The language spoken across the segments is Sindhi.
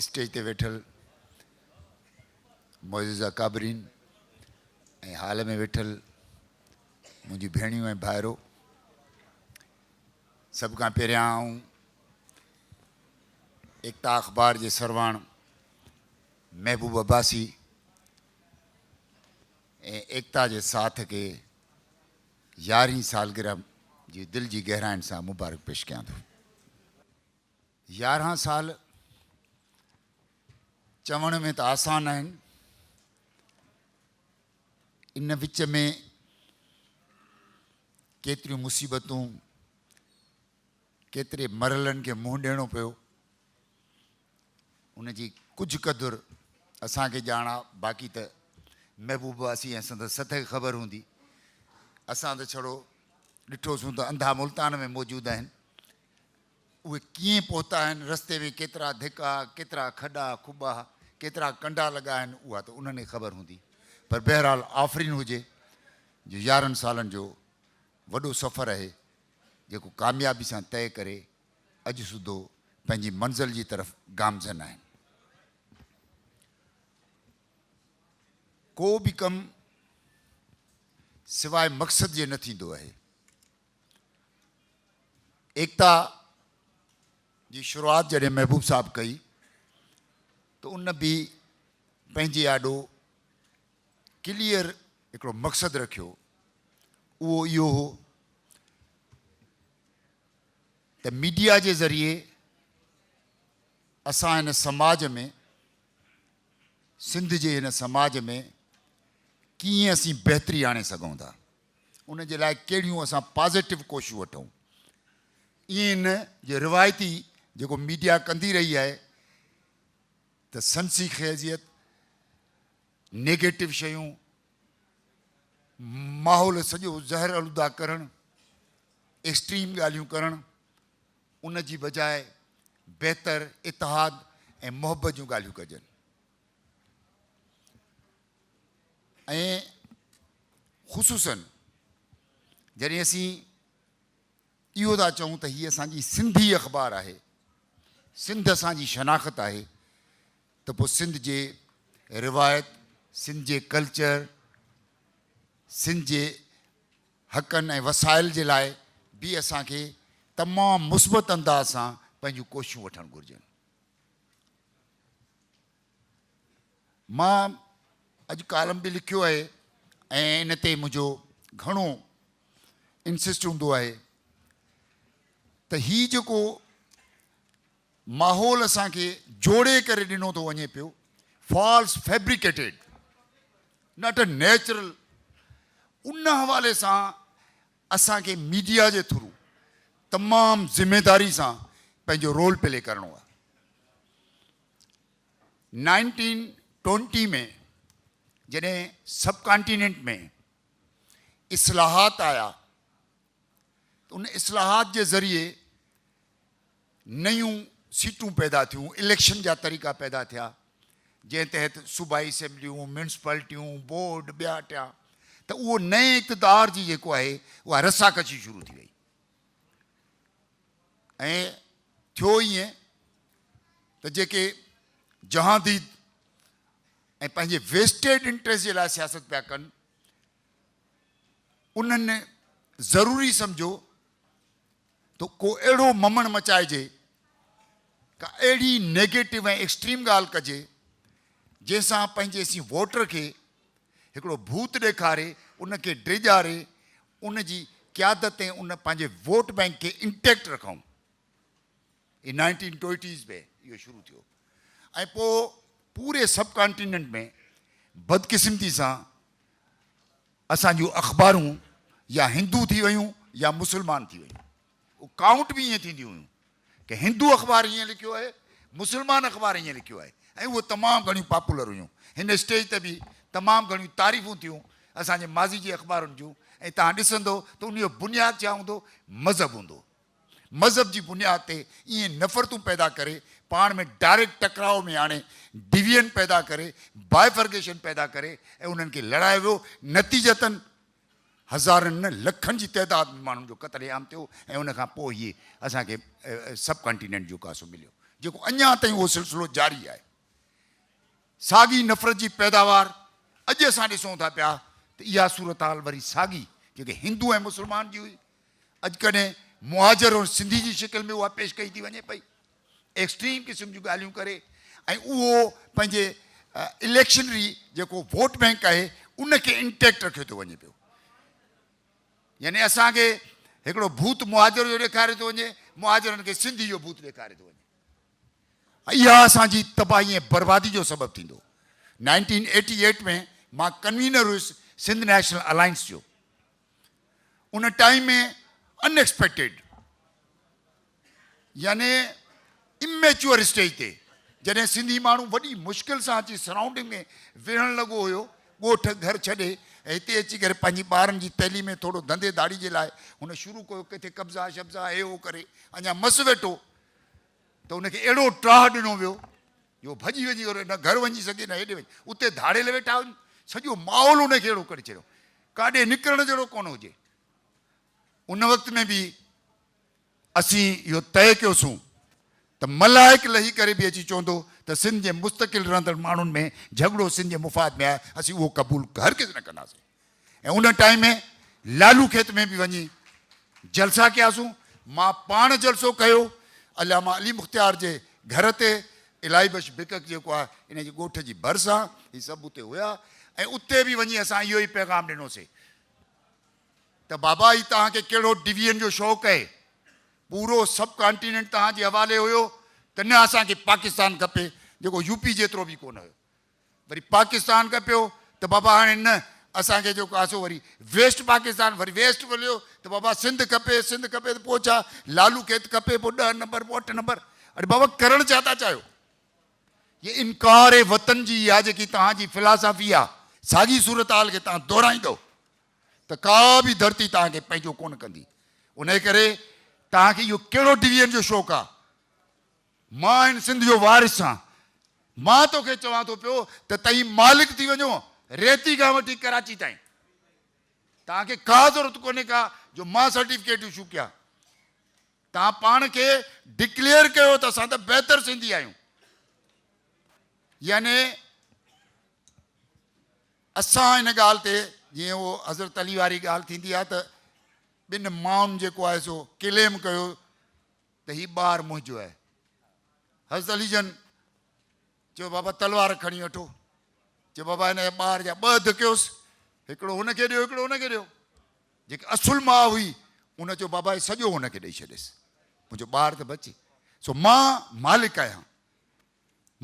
اسٽيج تي ويٺل معزز اڪابرين ۽ هال ۾ ويٺل منهنجي ڀيڻيون ۽ ڀائرو سڀ کان پهريان آئون ايڪتا اخبار جي سرواڻ محبوب عباسي ۽ ايڪتا جي ساٿ کي يارهين سالگرهه جي دل جي گهرائين سان مبارڪ پيش ڪيان ٿو يارهن سال چوڻ ۾ ته آسان آهن، ان وچ ۾ ڪيتريون مصيبتون، ڪيتري مرحلن کي منهن ڏيڻو پيو، ان جي ڪجهه قدر اسان کي ڄاڻ آ، باقي ته محبوب واسي ۽ سندس سٿ کي خبر هوندي. اسان ته ڇڙو ڏٺوسون ته انڌا ملتان ۾ موجود آهن. اهي ڪيئن پهتا آهن، رستي ۾ ڪيترا ڌڪا، ڪيترا کڏا کٻا، ڪيترا ڪنڊا لڳا آهن، اها ته انهن کي خبر هوندي، پر بهرحال آفرين هجي جو يارهن سالن جو وڏو سفر اهي جيڪو ڪاميابي سان طئي ڪري اڄ سڌو پنهنجي منزل جي طرف گامزن آهن. ڪو به ڪم سواء مقصد جي نه ٿيندو اهي. ايڪتا جي شروعات جڏهن محبوب صاحب ڪئي ته ان به پنهنجي آڏو ڪليئر هڪڙو مقصد رکيو اهو اهو هو ته ميڊيا جي ذريعي اسان هن سماج ۾ سنڌ جي هن سماج ۾ ڪيئن اسين بهتري آڻي سگهون ٿا ان جي لاء ڪهڙيون اسان پازيٽو ڪوششون وٺون. ائين نه جو روايتي جيڪو ميڊيا ڪندي رهي آهي ته سنسي خيزيت، نيگيٽو شيون، ماحول سڄو زهر الوده ڪرڻ، ايڪسٽريم ڳالهيون ڪرڻ، ان جي بجاء بهتر اتحاد ۽ محبت جون ڳالهيون ڪجن. ۽ خصوصاً جڏهن اسين اهو ٿا چئون ته هي اسان جي سنڌي اخبار آهي، سنڌ اسان جي شناخت آهي ته پوء سنڌ جي روايت، سنڌ جي ڪلچر، سنڌ جي حقن ۽ وسائل جي لاء به اسان کي تمام مثبت انداز سان پنهنجون ڪوششون وٺڻ گهرجن. مان اڄ ڪالم به لکيو آهي ۽ ان تي منهنجو گهڻو انسسٽ هوندو آهي ته هي جيڪو ماحول اسان کي جوڙي ڪري ڏنو ٿو وڃي پيو false fabricated not a natural ان حوالي سان اسان کي ميڊيا جي ٿرو تمام ذميداري سان پنهنجو رول پلي ڪرڻو آهي. نائنٽين ٽوئنٽي ۾ جڏهن سب ڪانٽيننٽ ۾ اصلاحات آيا ته ان اصلاحات جي ذريعي نيون سيٽون پيدا ٿيون، اليڪشن جا طريقا پيدا ٿيا جنهن تحت صوبائي اسيمبليون، ميونسپالٽيون، بورڊ ٻيا ٽيا ته اهو نئين اقتدار جي جيڪو آهي اها رساڪشي شروع ٿي وئي. ۽ ٿيو ائين ته جيڪي جهانديد ۽ پنهنجي ويسٽيڊ انٽريسٽ جي لاء سياست پيا ڪن انهن ضروري سمجهيو ته ڪو اهڙو ممڻ مچائجي ڪا اهڙي نيگيٽو ۽ ايڪسٽريم ڳالهه ڪجي جنهن سان پنهنجي سين ووٽر کي هڪڙو ڀوت ڏيکاري ان کي ڊيڄاري ان جي قيادت ۽ ان پنهنجي ووٽ بئنڪ کي انٽيڪٽ رکون هي نائنٽين ٽوئٽيز ۾ اهو شروع ٿيو ۽ پوء پوري سب ڪانٽيننٽ ۾ بدقسمتي سان اسان جون اخبارون يا هندو ٿي ويون يا مسلمان ٿي ويون. اهو ڪائونٽ به ائين ٿينديون هيون ته هندو اخبار هيئن لکيو آهي، مسلمان اخبار هيئن لکيو آهي ۽ اهي تمام گهڻيون پاپولر هيون. هن اسٽيج تي به تمام گهڻيون تعريفون ٿيون اسان جي ماضي جي اخبارن جون ۽ توهان ڏسندو ته ان جو بنياد ڇا هوندو؟ مذهب هوندو. مذهب جي بنياد تي ائين نفرتون پيدا ڪري، پاڻ ۾ ڊائريڪٽ ٽڪراء ۾ آڻي، ڊويزن پيدا ڪري، بائفرگيشن پيدا ڪري ۽ انهن کي لڙايو ويو. نتيجتن هزارن نه لکن جي تعداد ۾ ماڻهن جو قتل عام ٿيو ۽ ان کان پوء ئي اسان کي سب ڪانٽيننٽ جو ڪاسو مليو جيڪو اڃا تائين اهو سلسلو جاري آهي. ساڳي نفرت جي پيداوار اڄ اسان ڏسون ٿا پيا ته اها صورتحال وري ساڳي جيڪي هندو ۽ مسلمان جي هئي اڄ ڪڏهن مهاجر ۽ سنڌي جي شڪل ۾ اها پيش ڪئي ٿي وڃي پئي. ايڪسٽريم قسم جون ڳالهيون ڪري ۽ اهو پنهنجي اليڪشنري جيڪو ووٽ بئنڪ آهي ان کي انٽيڪٽ رکيو ٿو وڃي پيو يعني اسان کي هڪڙو ڀوت مهاجر جو ڏيکاريو ٿو وڃي مهاجرن کي سنڌي جو ڀوت ڏيکاريو ٿو وڃي اها اسان جي تباهي ۽ بربادي جو سبب ٿيندو نائنٽين ايٽي ايٽ ۾ مان ڪنوينر هيس سنڌ نيشنل الائنس جو ان ٽائيم ۾ انيڪسپيڪٽيڊ يعني اميچوئر اسٽيج تي جڏهن سنڌي ماڻهو وڏي مشڪل سان اچي سرائونڊنگ ۾ ويهڻ لڳو هيو، ڳوٺ گهر ڇڏي ۽ هتي اچي ڪري پنهنجي ٻارن جي تعليم ۽ ٿورو ڌنڌي ڌاڙي جي لاء هن شروع ڪيو ڪٿي قبضا شبضا هي هو ڪري اڃا مس ويٺو ته ان کي اهڙو ٽاهه ڏنو ويو جو ڀڄي وڃي ڪري نه گهر وڃي سگهي نه هيڏي وڃي اتي ڌاڙيل ويٺا هن سڄو ماحول ان کي اهڙو ڪري ڇڏيو ڪاڏي نڪرڻ جهڙو ڪونه هجي ان وقت ۾ به اسين اهو طئي ڪيوسون ته ملائڪ لهي ڪري به اچي چوندو ته سنڌ جي مستقل رهندڙ ماڻهن ۾ جهڳڙو سنڌ جي مفاد ۾ آهي اسين اهو قبول هرگز نه ڪنداسين ۽ ان ٽائيم ۾ لالو کيت ۾ به وڃي جلسا ڪياسون مان پاڻ جلسو ڪيو علامه علي مختيار جي گهر تي الاهي بخش بڪڪ جيڪو آهي ان جي ڳوٺ جي ڀرسان هي سڀ اتي هيا ۽ اتي به وڃي اسان اهو ئي پيغام ڏنوسي. ته بابا هي توهان کي ڪهڙو ڊويئن جو شوق اهي پورو سب ڪانٽيننٽ توهان جي حوالي هيو ته نه اسان کي پاڪستان کپي جيڪو يو پي جيترو به ڪونه هيو وري پاڪستان کپيو ته بابا هاڻي نه اسان کي جيڪو آسو وري ويسٽ پاڪستان وري ويسٽ مليو ته بابا سنڌ کپي سنڌ کپي ته پوء ڇا لالو کيت کپي پوء ڏهه نمبر پوء اٺ نمبر اڙي بابا ڪرڻ ڇا ٿا چاهيو هي انڪار وطن جي اها جيڪي توهان جي فلاسافي آهي ساڳي صورتحال کي توهان دهرائيندؤ ته ڪا به ڌرتي توهان کي پنهنجو ڪونه ڪندي. انهيء ڪري توهان کي اهو ڪهڙو ڊويزن جو شوق آ؟ مان هن سنڌ جو وارث آهيان. مان تو کي چوان ٿو پيو ته تهين مالڪ ٿي وڃو ريتي کان وٺي ڪراچي تائين. توهان کي ڪا ضرورت ڪونهي ڪا جو مان سرٽيفڪيٽ ايشو ڪيان. توهان پاڻ کي ڊڪليئر ڪيو ته اسان ته بهتر سنڌي آهيون. يعني اسان ان ڳالهه تي جيئن اهو حضرت علي واري ڳالهه ٿيندي آهي ته ٻن مائن جيڪو آهي سو ڪليم ڪيو ته هي ٻار منهنجو آهي حضرت علي جن چيو بابا تلوار کڻي وٺو چيو بابا هن جا ٻار جا ٻه اڌ ڪيوس هڪڙو هن کي ڏيو هڪڙو هن کي ڏيو جيڪي اصل ماء هئي ان چيو بابا هي سڄو هن کي ڏئي ڇڏيس منهنجو ٻار ته بچي سو مان مالڪ آهيان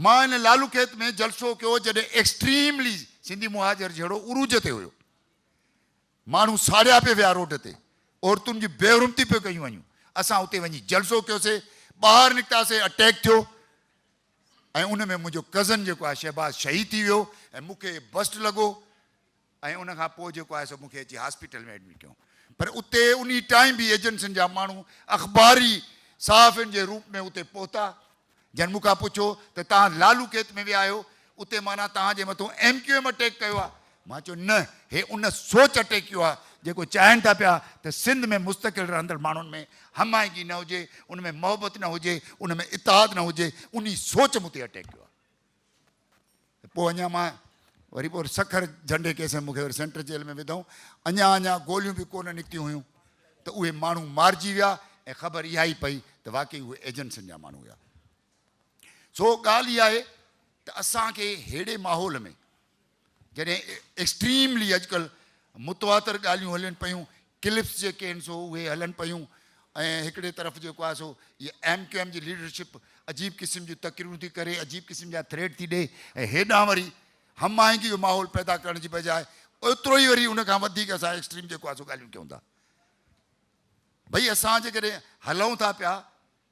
مان ان لالوڪيت ۾ جلسو ڪيو جڏهن ايڪسٽريملي سنڌي مهاجر جهيڙو عروج تي هيو. ماڻهو ساڙيا پئي ويا روڊ تي، عورتن جي بي حرمتي پئي ڪيون وڃون. اسان اتي وڃي جلسو ڪيوسي، ٻاهر نڪتاسي اٽيڪ ٿيو ۽ ان ۾ منهنجو ڪزن جيڪو آهي شهباز شهيد ٿي ويو ۽ مون کي بسٽ لڳو ۽ ان کان پوء جيڪو آهي سو مون کي اچي هاسپيٽل ۾ ايڊمٽ ڪيائون. پر اتي انهي ٽائيم به ايجنسين جا ماڻهو اخباري صحافين جي روپ ۾ اتي پهتا. جن مون کان پڇيو ته توهان لالو کيت ۾ ويا آهيو، اتي معنيٰ توهان جي مٿون ايم ڪيو ايم اٽيڪ ڪيو آهي؟ مان چيو نه، هي ان سوچ اٽيڪ ڪيو آهي، جيڪو چاهين ٿا پيا ته سنڌ ۾ مستقل رهندڙ ماڻهن ۾ هم آهنگي نه هجي، ان ۾ محبت نه هجي، ان ۾ اتحاد نه هجي، انهي سوچ مون تي اٽيڪ ڪيو آهي. ته پوء اڃا مان وري پوء وري سکر جهنڊي ڪيس ۾ مون کي وري سينٽر جيل ۾ وڌائون اڃا اڃا گوليون به ڪونه نڪتيون هيون ته اهي ماڻهو مارجي ويا ۽ خبر اها ئي پئي ته واقعي اهي ايجنسين جا ماڻهو هيا سو ڳالهه اها آهي ته اسان کي ههڙي ماحول ۾ جڏهن ايڪسٽريملي اڄڪلهه متواتر ڳالهيون هلين پيون، ڪلپس جيڪي آهن سو اهي هلن پيون ۽ هڪڙي طرف جيڪو آهي سو اهي ايم ڪيو ايم جي ليڊرشپ عجيب قسم جون تقريرون ٿي ڪري، عجيب قسم جا ٿريٽ ٿي ڏئي ۽ هيڏانهن وري هم آهنگي جو ماحول پيدا ڪرڻ جي بجاء ايترو ئي وري ان کان وڌيڪ اسان ايڪسٽريم جيڪو آهي سو ڳالهيون ڪيون ٿا. ڀئي اسان جيڪڏهن هلون ٿا پيا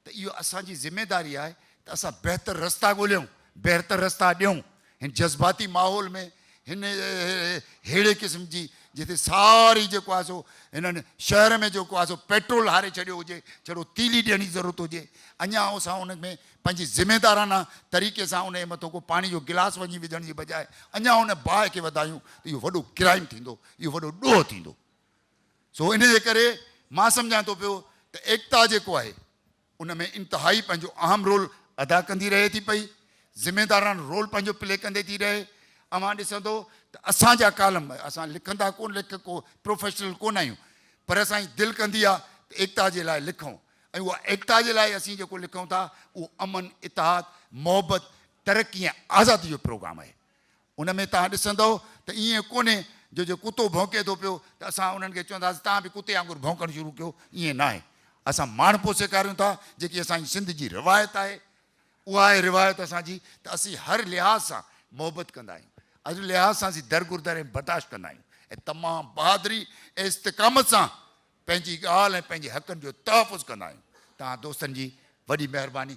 ته اهو اسان جي ذميداري آهي ته اسان بهتر رستا ڳوليون، بهرتر رستا ڏيون، هن جذباتي ماحول ۾ هن ههڙي قسم جي جتي ساري جيڪو آهي سو هنن شهر ۾ جيڪو آهي سو پيٽرول هاري ڇڏيو هجي جهڙو تيلي ڏيڻ جي ضرورت هجي اڃا اسان ان ۾ پنهنجي ذميدارانه طريقي سان انهي مٿو ڪو پاڻي جو گلاس وڃي وجهڻ جي بجاء اڃا ان باهه کي وڌايون ته اهو وڏو ڪرائيم ٿيندو اهو وڏو ڏوهه ٿيندو. سو انهيء ڪري مان سمجهان ٿو پيو ته ايڪتا جيڪو آهي ان ۾ انتهائي پنهنجو اهم رول ادا ڪندي رهي ٿي پئي، ذميدارانه رول پنهنجو پلي ڪندي ٿي رهي. اوهان ڏسندو ته اسان جا ڪالم، اسان لکندا ڪونه ليکڪو پروفيشنل ڪونه آهيون پر اسان جي دل ڪندي آهي ته ايڪتا جي لاء لکون ۽ اها ايڪتا جي لاء اسين جيڪو لکون ٿا اهو امن، اتحاد، محبت، ترقي ۽ آزادي جو پروگرام آهي. ان ۾ توهان ڏسندؤ ته ائين ڪونهي جو جيئن ڪتو ڀونڪي ٿو پيو ته اسان انهن کي چونداسين توهان به ڪتي وانگر ڀونڪڻ شروع ڪيو، ائين ناهي. اسان ماڻهپو سيکاريون ٿا، جيڪي اسان جي سنڌ جي روايت آهي. اها آهي روايت اسان جي ته اسين هر لحاظ سان محبت ڪندا آهيون. هر لحاظ سان اسين درگذر ۽ برداشت ڪندا آهيون ۽ تمام بهادري ۽ استقامت سان پنهنجي ڳالهه ۽ پنهنجي حقن جو تحفظ ڪندا آهيون. توهان دوستن جي وڏي مهرباني.